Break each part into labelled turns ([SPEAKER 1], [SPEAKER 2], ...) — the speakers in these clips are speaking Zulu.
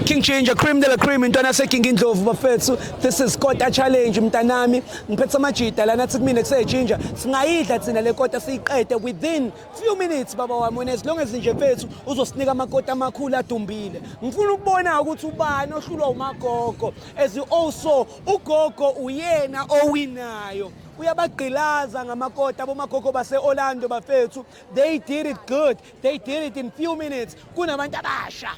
[SPEAKER 1] King Ginger, cream de la cream, intwana yaseKing Indlovu bafethu. This is Kota Challenge mntanami. Ngiphethe amajita lana athi kumina kuse Ginger. Singayidla thina le kota siyiqede within few minutes baba wami wena as long as nje mfethu uzosinika amakota amakhulu adumbile. Ngifuna ukubona ukuthi ubani ohlulwa umagogo as you also Ugogo uyena owinayo uyabagqilaza ngamakota abomagogo base-orlando bafethu they did it good they did it in few minutes kunabantu abasha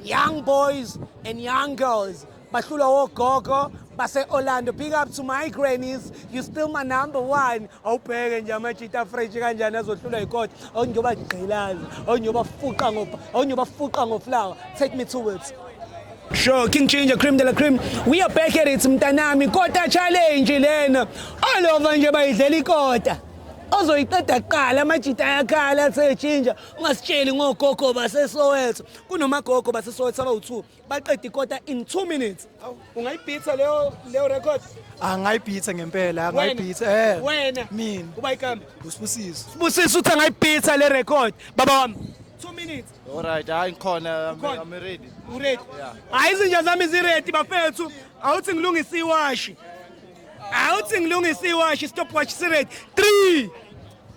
[SPEAKER 1] young boys and young girls bahlulwa wogogo base-orlando big up to my grannies you still my number one awubheke nje amajita fresh kanjani azohlulwa yikota awungiyobagqilaza awungiyobafuqa ngoflawa take me towards Sure, King Ginger, cream de la cream. We are back at it, mntanami. Kota challenge lena. All over nje bayidlela ikota. ozoyiqeda kuqala amajita ayakhala athe ginger ungasitsheli ngogogo basesoweto kunomagogo basesoweto abawu-two baqeda ikota in two minutes ungayibhitha leyo leyo record angayibhitha
[SPEAKER 2] ngempela angayibhitha eh wena mina
[SPEAKER 1] uba ikambe usibusiso
[SPEAKER 2] sibusiso uthi angayibhitha
[SPEAKER 1] le record baba wami two minutes Alright, hayi ngikhona
[SPEAKER 3] Ukhona? I'm ready. Uready?
[SPEAKER 1] Yeah. Hayi izinja zami ziready bafethu. Awuthi ngilungise iwashi. Awuthi ngilungise iwashi stopwatch siready. 3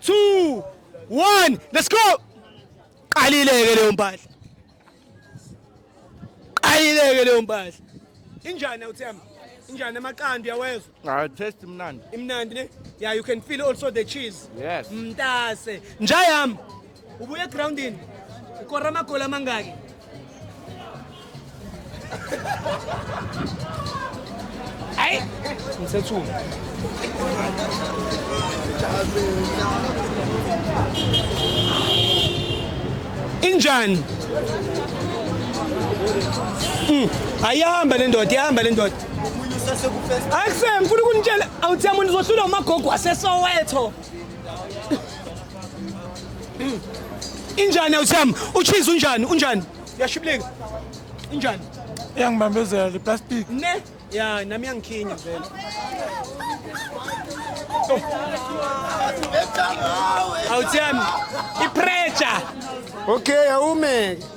[SPEAKER 1] 2 1 let's go. Qalileke leyo mpahla. Qalileke leyo mpahla. Injani awuthemba? Injani amaqanda uyawezwa? Ah, taste imnandi.
[SPEAKER 3] Imnandi ne? Yeah,
[SPEAKER 1] you can feel also the cheese. Yes. Mntase. Njayam. Ubuye groundini. Ukora magola mangaki? Ay, ngisethuma. Injani? Mm, ayihamba le ndoda, ihamba le ndoda. Akuse ngifuna ukunitshela awuthi yamuntu uzohlulwa umagogo waseSoweto. Injani awuthami? Uchiza unjani? Unjani? Yashiblika. Injani? Iyangibambezela
[SPEAKER 2] le plastic. Ne? Ya
[SPEAKER 1] nami yangikhinya vele. Awuthami. Ipressure. Okay, awume.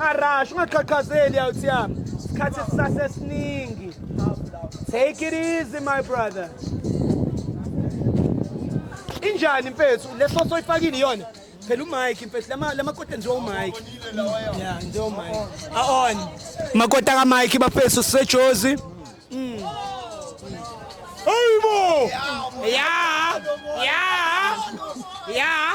[SPEAKER 1] Arash ungaqhaqhazeli out yami. Isikhathi sisasesiningi. Take it easy my brother. Injani mfethu leso soyifakile iyona? phela uMike mfethu lama lamakoti enziwa uMike yeah nje uMike aon makoti aka Mike bafethu sisejozi mm Hey mo yeah yeah yeah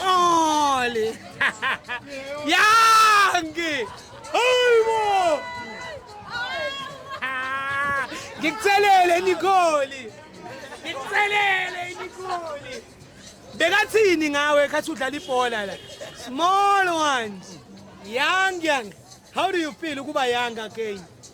[SPEAKER 1] Oli! Yangi! Hayibo! Ngikuthelele Nikoli! Ngikuthelele Nikoli! Bekathini ngawe khathi udlala ibhola la? Small ones. Young young. How do you feel ukuba young again?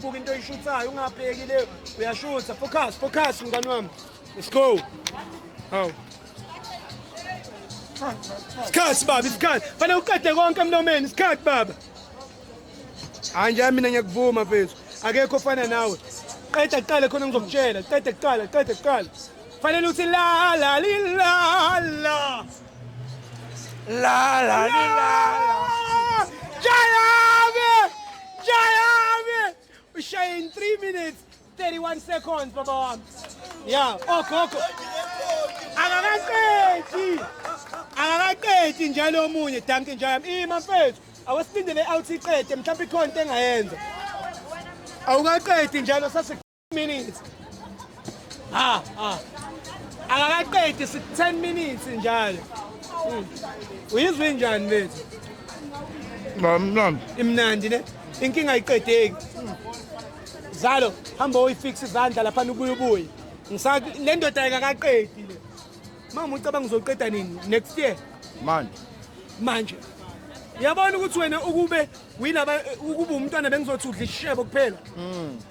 [SPEAKER 1] Buka into oyishuthayo ungabheki le uyashutha focus focus mngani wami. Let's go. Hawu. Isikhathi baba isikhathi. Fanele uqede konke emlomeni isikhathi baba. Hayi nje mina ngiyakuvuma mfethu. Akekho ofana nawe. Qeda kuqala khona ngizokutshela. Qeda kuqala, qeda kuqala. Fanele uthi la la la la.
[SPEAKER 2] La la la la. Jayami!
[SPEAKER 1] Jayami! Ushaye in 3 minutes 31 seconds baba wami. Yeah, okho oh, okho. Oh. Akakaqedi. Akakaqedi njalo omunye Duncan Jayami. Ima mfethu. Awasindele out iqede mhlawumbe ikhona into engayenza. Awukaqedi njalo sase minutes ha ha akakaqedi 10 minutes njalo hmm. uyizwa injani lethu mamnandi imnandi ne inkinga ayiqedeki zalo hamba uyifixe izandla lapha ubuye ubuye ngisa le ndoda ayikaqedi le mama ucabanga uzoqeda nini next year manje manje yabona ukuthi wena ukube winaba ukube umntwana bengizothi udla ishebo kuphela mm.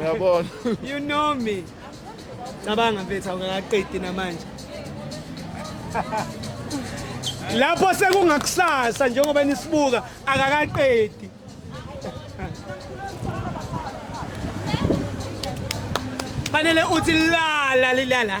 [SPEAKER 1] Uyabona.
[SPEAKER 3] You know
[SPEAKER 1] me. Cabanga mfethu awungakaqedi namanje. Lapho sekungakusasa njengoba nisibuka akakaqedi. Fanele uthi lala lilala.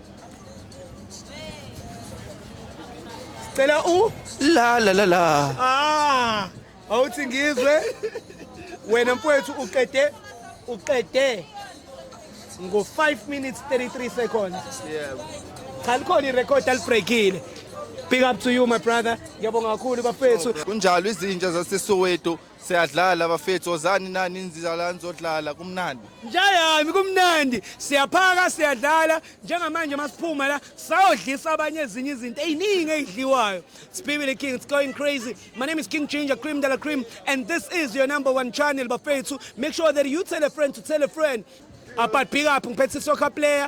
[SPEAKER 1] Cela u la la
[SPEAKER 3] la la. Ah, awuthi
[SPEAKER 1] ngizwe wena mfowethu uqede uqede ngo 5 minutes 33 seconds. Yeah.
[SPEAKER 3] Cha likhona
[SPEAKER 1] irecord alibreakile. Big up to you my brother. Ngiyabonga kakhulu bafethu. Kunjalo izinja
[SPEAKER 3] zaseSoweto Siyadlala bafethu ozani nani inzizalani zodlala kumnandi. Njayami
[SPEAKER 1] kumnandi siyaphaka siyadlala njengamanje masiphuma la sawodlisa abanye ezinye izinto eziningi ezidliwayo. Sibibile King it's going crazy. My name is King Ginger Cream Dala Cream and this is your number one channel bafethu. Make sure that you tell a friend to tell a friend. Apart big up ngiphethe soccer player